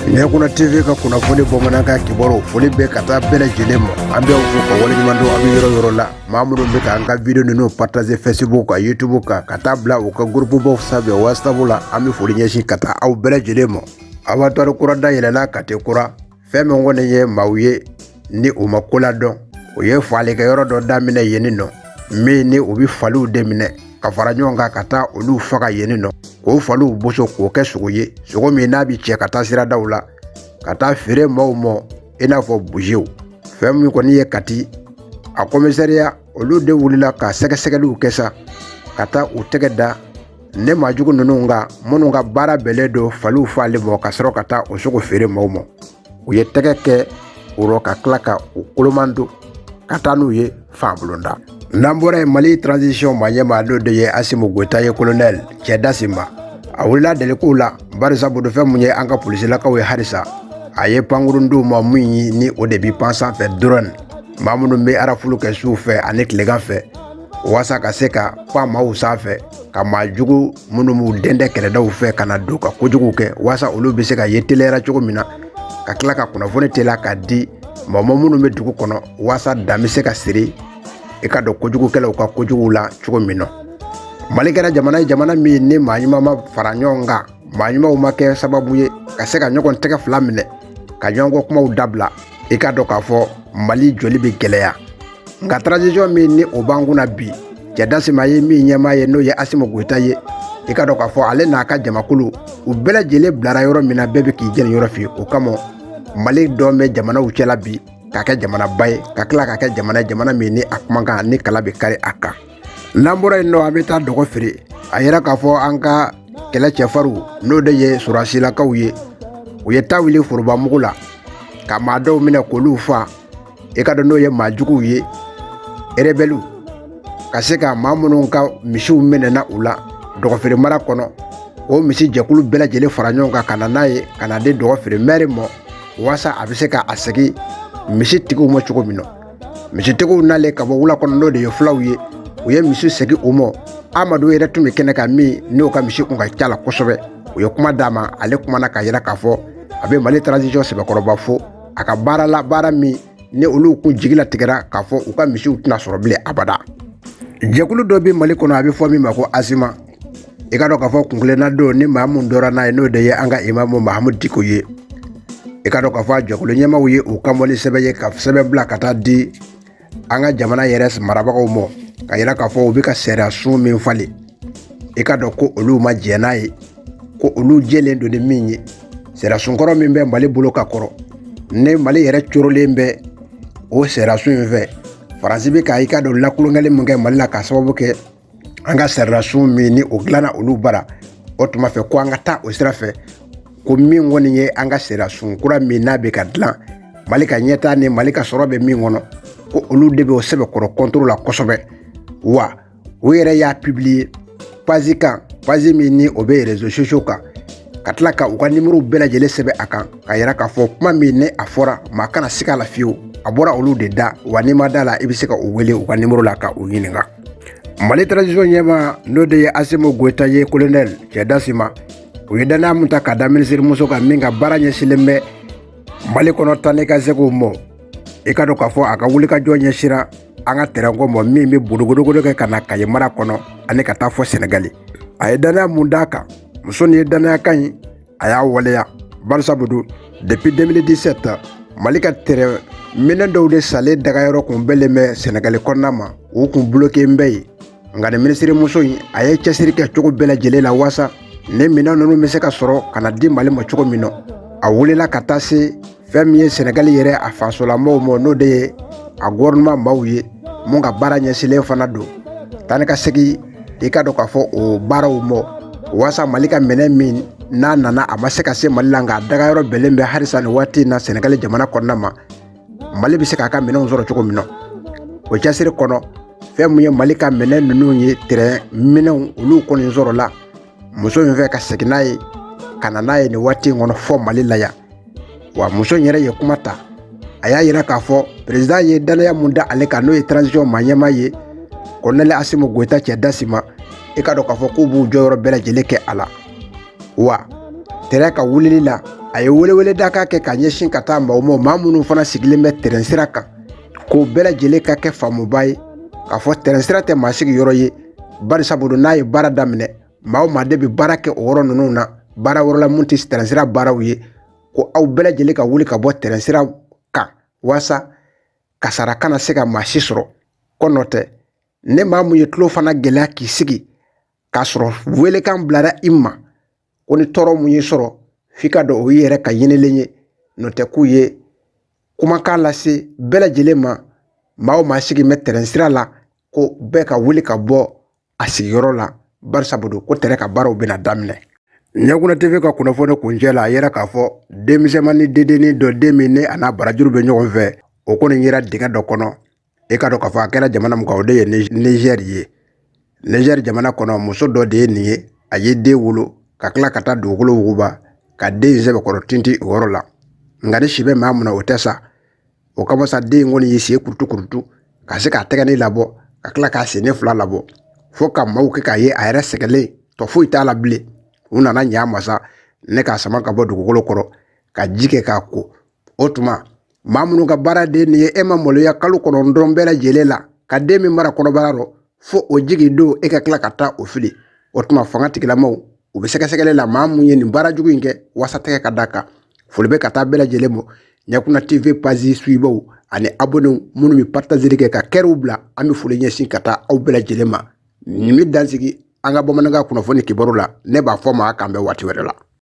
ɲɛkuna tv ka kunnafoni bamanankan kibaru foli bɛ ka taa bɛɛ lajɛlen ma an b'aw fo ka waleɲuman dɔn aw bɛ yɔrɔ yɔrɔ la maa minnu bɛ ka an ka video ninnu partager facebook kan youtube kan ka taa bila u ka gurupubaw sanfɛ whatsapp la an bɛ foli ɲɛsin ka taa aw bɛɛ lajɛlen ma abattoir kura dayɛlɛla kati kura fɛn min kɔni ye maaw ye ni u ma ko ladɔn u ye faalikɛyɔrɔ dɔ daminɛ yenni nɔ min ni u bɛ faliw de minɛ ka fara ɲɔgɔn kan ka taa olu faga yenni nɔ k'o faliw boso k'o kɛ sogo ye sogo min n'a bɛ cɛ ka taa siradaw la ka taa feere maaw ma i n'a fɔ busew fɛn min kɔni ye kati a kɔmisariya olu de wulila ka sɛgɛsɛgɛliw kɛ sa ka taa u tɛgɛ da nin maa jugu ninnu kan minnu ka baara bɛnnen don faliw faali ma ka sɔrɔ ka taa o sogo feere maaw ma u ye tɛgɛ kɛ o rɔ ka tila ka u koloman don ka taa n'u ye fanbulonda n'an bɔra yen mali transition maa ɲɛmaa n'o de ye asimu goyita ye kolonɛli cɛ dasima a wulila delikow la barisa bodofɛn min ye an ka polisilakaw ye halisa a ye pankurun d'u ma min ni o de bi pan sanfɛ drone maa minnu bɛ arafulu kɛ suw fɛ ani tilegan fɛ walasa ka se ka pan maaw sanfɛ ka maa jugu minnu b'u dɛndɛ kɛrɛdaw fɛ ka na don ka kojugu kɛ walasa olu bɛ se ka ye teliya la cogo min na ka tila ka kunnafoni teliya k'a di maa ma minnu bɛ dugu kɔnɔ walasa dan bɛ se ka siri i k'a dɔn kojugukɛlaw ka kojuguw la cogo min na mali kɛra jamana ye jamana min ni maa ɲuman ma fara ɲɔgɔn kan maa ɲumanw ma kɛ sababu ye ka se ka ɲɔgɔn tɛgɛ fila minɛ ka ɲɔgɔn kɔ kumaw dabila i k'a dɔn k'a fɔ mali jɔli bɛ gɛlɛya nka transition min ni o b'an kunna bi cɛ dasima ye min ɲɛmaa ye n'o ye asimu goyita ye i k'a dɔn k'a fɔ ale n'a ka jamakulu u bɛɛ lajɛlen bilara yɔrɔ min na bɛɛ bɛ k'i jɛniyɔrɔ fin o kama mali dɔn bɛ jamanaw cɛla bi ka kɛ jamanaba ye ka tila ka kɛ jamana ye jamana min ni a kumakan ni kala bɛ kari a kan n'an bɔra yen nɔ an bɛ taa dɔgɔfiri a yira k'a fɔ an ka kɛlɛ cɛfarinw n'o de ye sɔrɔsilakaw ye u ye ta wuli foroba mugu la ka maa dɔw minɛ k'olu faa i k'a dɔn n'o ye maa juguw ye erebɛliw ka se ka maa minnu ka misiw minɛna u la dɔgɔfiri mara kɔnɔ o misi jɛkulu bɛɛ lajɛlen fara ɲɔgɔn kan ka na n'a ye ka na di dɔgɔfiri mɛri ma walasa a bɛ se ka a segin misi tigiw ma cogo min na misitigiw nalen ka bɔ wula kɔnɔ n'o de ye fulaw ye u ye misi segin u ma amadu yɛrɛ tun bɛ kɛnɛ kan min n'o ka misi kun ka ca la kosɛbɛ u ye kuma d'a ma ale kumana k'a yira k'a fɔ a bɛ mali transition sɛbɛkɔrɔba fo a ka baara la baara min ni olu kun jigi latigɛra k'a fɔ u ka misiw tɛna sɔrɔ bilen abada jɛkulu dɔ bɛ mali kɔnɔ a bɛ fɔ min ma ko azima i ka dɔn k'a fɔ kun kelenna don ni maa mun dɔra n'a ye n'o de ye an ka imamu mahamudu diko ye i ka dɔn k'a fɔ a jɛkulu ɲɛmaaw ye u kan bɔ ni sɛbɛn ye ka sɛbɛn bila ka taa di an ka jamana yɛrɛ marabagaw ma ka yira k'a fɔ u bɛ ka sariya sun min falen i ka dɔn ko olu ma jɛn n'a ye ko olu jɛlen don ni min ye sariya sunkɔrɔ min bɛ mali bolo ka kɔrɔ ni mali yɛrɛ corolen bɛ o sariya sun in fɛ faransi bɛ ka i ka dɔn lakolonkɛli min kɛ mali la k'a sababu kɛ an ka sariyasun min ni o dilanna olu bara o tuma fɛ ko an ka taa o sira fɛ ko min kɔni ye an ka sariyasun kura min n'a bɛ ka dilan mali ka ɲɛtaa ni mali ka sɔrɔ bɛ min kɔnɔ ko olu de bɛ o sɛbɛkɔrɔ contre la kosɛbɛ wa o yɛrɛ y'a pibiliye pazi kan pazi min ni o bɛ rezo sosiyo kan ka tila ka u ka nimoro bɛɛ lajɛlen sɛbɛn a kan ka yira k'a fɔ kuma min ni a fɔra maa kana siga a la fiyewu a bɔra olu de da wa n'i ma da a la i bɛ se ka u wele u ka nimoro la ka u ɲininka mali transition ɲɛmaa n'o de ye asimu goyita ye kolonɛli cɛ dasima u ye dannaya min ta ka da minisirimuso kan min ka baara ɲɛsinlen bɛ mali kɔnɔ taa ni ka segin kow ma i ka dɔn k'a fɔ a ka wulikajɔ ɲɛsira an ka tɛrɛnko ma min bɛ bodogodogodo kɛ ka na kaye mara kɔnɔ ani ka taa fɔ sɛnɛgali a ye dannaya mun d'a kan muso nin ye dannaya kan in a y'a waleya barisabu don depuis 2017 mali ka tɛrɛn minɛn dɔw de sanlen dagayɔrɔ kun bɛnlen bɛ sɛnɛgali kɔnɔna ma u kun buloken bɛ yen nka nin minisirimuso in a ye cɛsiri kɛ cogo bɛɛ lajɛlen la waasa ni minɛn ninnu bɛ se ka sɔrɔ ka na di mali ma cogo min na a wulila ka taa se fɛn min ye sɛnɛgali yɛrɛ a fasolamɔgɔw ma n'o de ye a gofɛrɛnaman maaw ye mun ka baara ɲɛsinlen fana don taa ni ka segin i ka dɔn k'a fɔ o baaraw ma waasa mali ka minɛn min n'a nana a ma se ka se mali la nka a dagayɔrɔ bɛnlen bɛ halisa nin waati in na sɛnɛgali jamana kɔnɔna ma mali bɛ se k'a ka minɛnw sɔrɔ cogo min na o cɛsiri kɔnɔ fɛn min ye mali ka minɛn ninnu ye tɛrɛn minɛnw olu kɔni sɔrɔla muso in fɛ ka segin n'a ye ka na n'a ye nin waati in kɔnɔ fɔ mali la yan wa muso in yɛrɛ ye kuma ta a y'a yira k'a fɔ peresidan ye dannaya mun da ale kan n'o ye transition ma ɲɛmaa ye kolonɛli asimu goyita cɛ dasima i ka dɔn k'a fɔ k'u b'u jɔyɔrɔ bɛɛ lajɛlen kɛ a la wa tɛrɛn ka wulili la a ye welewele da ka kɛ ka ɲɛsin ka taa maaw ma maa minnu fana sigilen bɛ tɛrɛn sira kan k'o bɛɛ lajɛlen ka kɛ faamubaa ye k'a fɔ tɛrɛn sira tɛ maa sigi yɔrɔ ye barisabu n'a ye baara daminɛ maa maa de bɛ baara kɛ o yɔrɔ ninnu na baara wɛrɛ la minnu tɛ tɛrɛnsira baaraw ye ko aw bɛɛ lajɛlen ka wuli ka bɔ tɛrɛnsira kan walasa kasaara kana se ka maa si sɔrɔ ko n'o tɛ ni maa mun y'i tulo fana gɛlɛya k'i sigi k'a sɔrɔ welekan bilara i ma ko ni tɔɔrɔ mun y'i sɔrɔ f'i k'a dɔn o y'i yɛrɛ ka ɲinilen ye n'o tɛ k'u ye kumakan lase bɛɛ lajɛlen ma maa o maa sigi bɛ tɛrɛnsira la ko bɛɛ ka wuli ka bɔ a sigiyɔrɔ la barisa don ko tɛrɛn ka baaraw bɛna daminɛ ɲɛkunna tv ka kunnafoni kuncɛ la a yera k'a fɔ denmisɛnmanin dendennin dɔ den min ne a n'a barajuru bɛ ɲɔgɔn fɛ o kɔni yera dingɛ dɔ kɔnɔ e k'a dɔn k'a fɔ a kɛra jamana min kan o de ye nizɛri ye nizɛri jamana kɔnɔ muso dɔ de ye nin ye a ye den wolo ka tila ka taa dugukolo wuguba ka den in sɛbɛkɔrɔ tintin o yɔrɔ la nka ni si bɛ maa mun na o tɛ sa o kama sa den in kɔni y'i sen kurutu kurutu ka se k'a tɛgɛnin labɔ ka tila k'a sennin fila labɔ fo ka maaw kɛ k'a ye a yɛrɛ sɛgɛnlen tɔ foyi t'a la bilen u nana ɲɛ a ma sa ne k'a sama ka bɔ dugukolo kɔrɔ ka ji kɛ k'a ko o tuma maa minnu ka baara de nin ye e ma maloya kalo kɔnɔntɔn bɛɛ lajɛlen la ka den min mara kɔnɔbara rɔ fo o jigin don e ka tila ka taa o fili o tuma fanga tigilamaw u bɛ sɛgɛsɛgɛli la maa mun ye nin baara jugu in kɛ waasa tɛgɛ ka da a kan foli bɛ ka taa bɛɛ lajɛlen ma ɲɛkunna tv pazi suibaw ani abonnew minnu bɛ partazeli kɛ ka kɛrɛw bila an bɛ foli ɲɛsin ka taa aw bɛɛ lajɛlen ma nin bɛ dan sigi an ka bamanankan kunnafoni kibaru la ne b'a fɔ aw ma k'an bɛn waati wɛrɛ la